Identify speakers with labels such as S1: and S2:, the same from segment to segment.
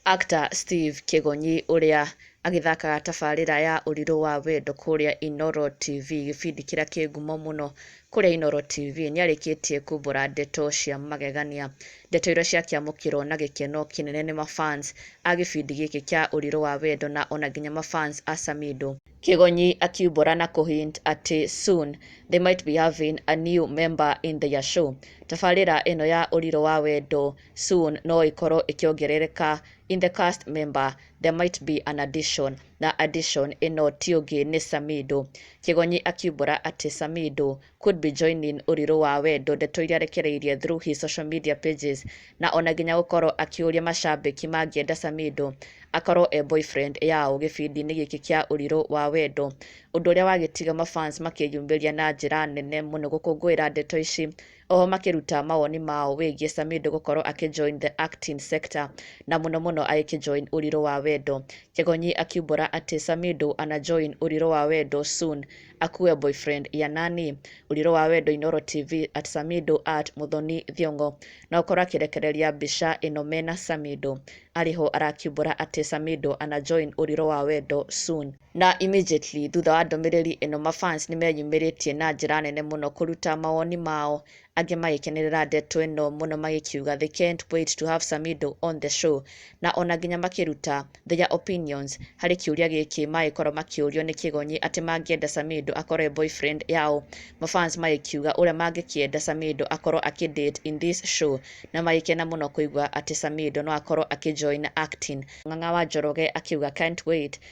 S1: Actor Steve Kĩgonyi ũrĩa agĩthakaga tabarĩra ya Ũrirũ wa Wendo kũrĩa Inooro TV gĩbindi kĩrĩa kĩ ngumo mũno kũrĩa Inooro TV nĩarĩkĩtie kumbũra ndeto cia magegania. Ndeto iria ciakĩamũkĩrwo na gĩkeno kĩnene nĩ ma fans a gĩbindi gĩkĩ kĩa Ũrirũ wa Wendo na ona nginya ma fans a Samido. Kĩgonyi akiumbũra na kũ hint atĩ soon they might be having a new member in their show. Tabarĩra ĩno ya Ũrirũ wa Wendo soon no ĩkorwo ĩkĩongerereka In the cast member there might be an addition na addition ĩno ti ũngĩ nĩ Samido. Kĩgonyi akiumbũra atĩ Samido could be joining Ũrirũ wa Wendo ndeto iria arekereirie through his social media pages na ona nginya gũkorwo akĩũria macambĩki mangĩenda Samido akorwo e boyfriend yao gĩbindi-inĩ gĩkĩ kĩa Ũrirũ wa Wendo ũndũ ũrĩa wagĩtiga mafans makĩyumĩria na njĩra nene mũno gũkũngũĩra ndeto ici Oho makĩruta mawoni mao wĩgiĩ Samido gũkorwo akĩ join the acting sector na mũno mũno agĩkĩ join Ũrirũ wa Wendo. Kegonyi akiumbũra atĩ Samido ana join Ũrirũ wa Wendo soon akuwe boyfriend ya nani? Ũrirũ wa Wendo Inooro TV at Samido at Muthoni Thiong'o na gũkorwo akĩrekereria mbica ĩno mena Samido arĩ ho arakiumbũra atĩ Samido ana join Ũrirũ wa Wendo soon. Na immediately thutha wa ndũmĩrĩri ĩno ma fans nĩ meyumĩrĩtie na njĩra nene mũno kũruta mawoni mao angĩ magĩkenerera ndeto ĩno mũno magĩkiuga they can't wait to have Samido on the show na ona nginya makĩruta their opinions harĩ kĩũria gĩkĩ magĩkorwo makĩũrio nĩ Kĩgonyi atĩ mangĩenda Samido akorwo e boyfriend yao ma fans magĩkiuga ũrĩa mangĩkĩenda Samido akorwo akĩ date in this show na magĩkena mũno kũigua atĩ Samido no akorwo akĩ join acting Ng'ang'a wa Njoroge akiuga can't wait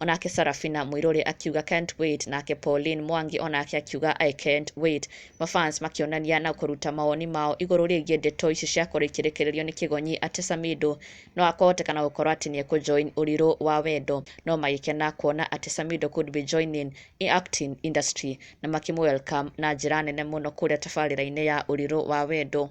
S1: Onake Sarafina Mũirũrĩ akiuga can't wait, nake Pauline Mwangi onake akiuga I can't wait. Ma fans makĩonania na kũruta mawoni mao igũrũ rĩgiĩ ndeto ici ciakorwo ikĩrekererio nĩ Kĩgonyi atĩ Samido no akũhoteka na gũkorwo atĩ nĩ ekũjoin ũrirũ wa wendo, no magĩkena kuona atĩ Samido could be joining in acting industry na makĩmũ welcome na njĩra nene mũno kũrĩa tabarĩra-inĩ ya ũrirũ wa wendo.